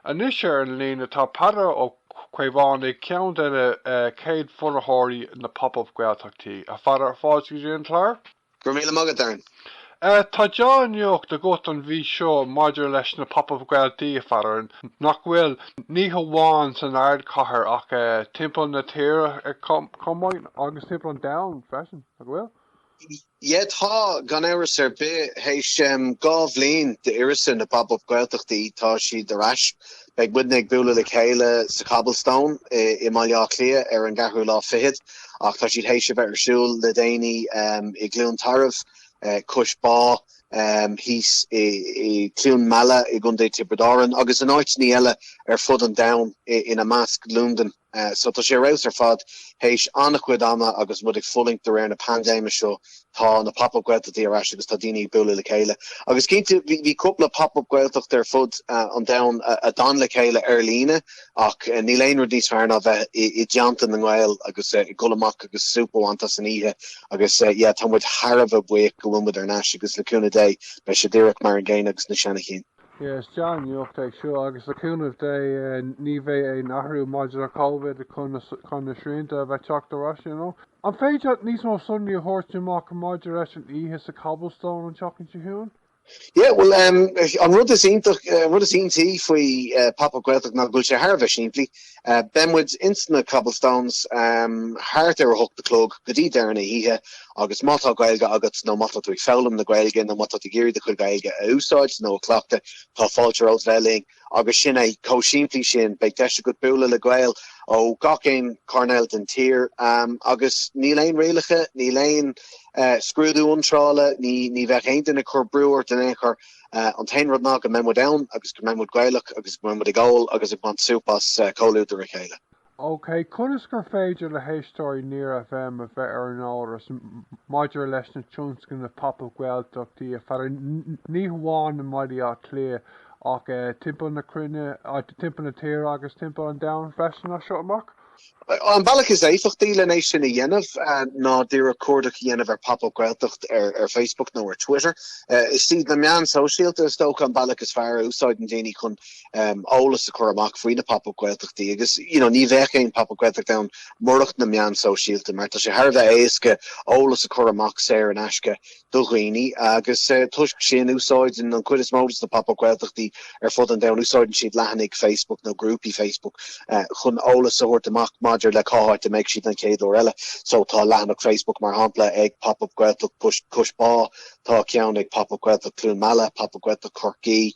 Anois ar an líne tá Peadar Ó Caomhánaigh, ceann de na chéad bhunaitheoirí na Pop Up Gaeltachtaí. A Pheadair, fáilte go dtí an clár. Go raibh míle maith agat, Darren. Tá dea-nuacht agat an mhí seo maidir leis na Pop Up Gaeltaí, a Pheadair, nach bhfuil? Ní hamháin san ardchathair ach timpeall na tíre chomh maith, agus timpeall an domhain freisin, nach bhfuil? Ie tá, gan amhras ar bith. Théis dhá bhliain d'uireasa na Pop Up Gaeltachtaí tá siad ar ais. Beidh muidne ag bualadh le chéile sa Cobblestone i mBaile Átha Cliath ar an gceathrú lá fichead ach tá siad théis a bheith ar siúl le déanaí i gCluain Tarbh, Cois Bá, thíos i gCluain Meala i gContae Tiobraid Árann agus in áiteanna eile ar fud an domhain ina measc Lúndain. So tá sé ar fheabhas ar fad. Théis an-a-chuid ama agus muid ag fulaingt de bharr na paindéime seo, tá na Pop Up Gaeltachtaí ar ais agus tá daoine ag bualadh le chéile. Agus cinnte, bhí cúpla Pop Up Gaeltacht ar fud an domhain a d'fhan le chéile ar líne, ach níl aon rud níos fearr ná bheith i dteannta na nGael agus ag dul amach agus súp a bhaint as an oíche. Agus, yeah, tá muid thar a bheith buíoch go bhfuil muid ar n-ais agus le cúnamh Dé, beidh sé díreach mar an gcéanna agus na seana chinn. Yes, dea-nuacht é seo agus le cúnamh Dé ní bheidh aon athrú maidir le Covid chun na srianta a bheith teacht ar ais, you know. An féidir níos mó sonraí a thabhairt amach maidir leis an oíche sa Cobblestone an tseachtain seo chugainn? Yeah bhuel an rud is iontach, an rud is iontaí faoi Pop Up Gaeltacht ná go bhfuil sé thar a bheith simplí. Beidh muid ins an Cobblestone thart ar a hocht a chlog go dtí deireadh na hoíche agus má tá Gaeilge agat nó má tá tú ag foghlaim na Gaeilge nó má tá tú ag iarraidh do chuid Gaeilge a úsáid nó a chleachtadh tá fáilte romhat bheith linn agus sin é, chomh simplí sin. Beidh deis agat bualadh le Gaeil ó gach aon choirnéal den tír agus níl aon rialacha, níl aon scrúdú iontrála, ní bheidh aon duine ag cur brú ort in aon chor. Uh, an t-aon rud ná go mbeidh muid ann agus go mbeidh muid Gaelach agus go mbeidh muid ag ól agus ag baint súp as uh, comhluadar a chéile. Ok, conas gur féidir le héisteoirí Near FM a bheith ar an eolas maidir leis na tionscnaimh Pop-Up Gaeltachtaí a Pheadair ní hamháin i mBaile Átha Cliath ach timpeall na cruinne, timpeall na tíre agus timpeall an domhain freisin as seo amach? An bealach is éifeachtaí lena é sin a dhéanamh ná díreach cuardach a dhéanamh ar Pop Up Gaeltacht ar Facebook nó ar Twitter. Is iad na meáin shóisialta is dócha an bealach is fearr a úsáideann daoine chun eolas a chur amach faoi na Pop Up Gaeltachtaí agus you know ní bheadh aon Pop Up Gaeltacht ann murach na meáin shóisialta mar tá sé thar a bheith éasca eolas a chur amach saor in aisce do dhaoine agus toisc sin úsáideann an chuid is mó de na Pop Up Gaeltachtaí ar fud an domhain, úsáideann siad leathanaigh Facebook nó grúpaí Facebook chun eolas a thabhairt amach maidir le cá háit a mbeidh siad an chéad uair eile. So tá leathanach Facebook mar shampla ag Pop Up Gaeltacht Cois Bá, tá ceann ag Pop Up Gaeltacht Cluain Meala, Pop Up Gaeltacht Chorcaí,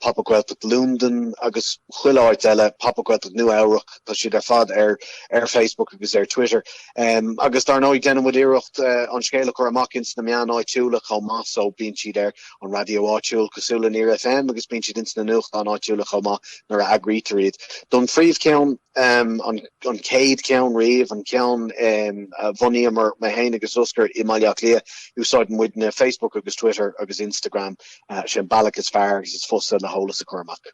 Pop Up Gaeltacht Londain agus chuile áit eile, Pop Up Gaeltacht Nua Eabhrac, tá siad ar fad ar Facebook agus ar Twitter. Um, agus dar ndóigh déanann muid iarracht uh, an scéal a chur amach ins na meáin áitiúla chomh maith, so bíonn siad ar an raidió áitiúil cosúil le Near FM agus bíonn siad ins na nuachtáin áitiúla chomh maith nuair a eagraítear iad. Don phríomh ceann um, an, an chéad cheann riamh, an ceann um, a bhunaíomar mé féin agus Oscar i mBaile Átha Cliath, úsáideann muidne Facebook agus Twitter agus Instagram uh, sin an bealach is fearr agus is fusa le heolas a chur amach.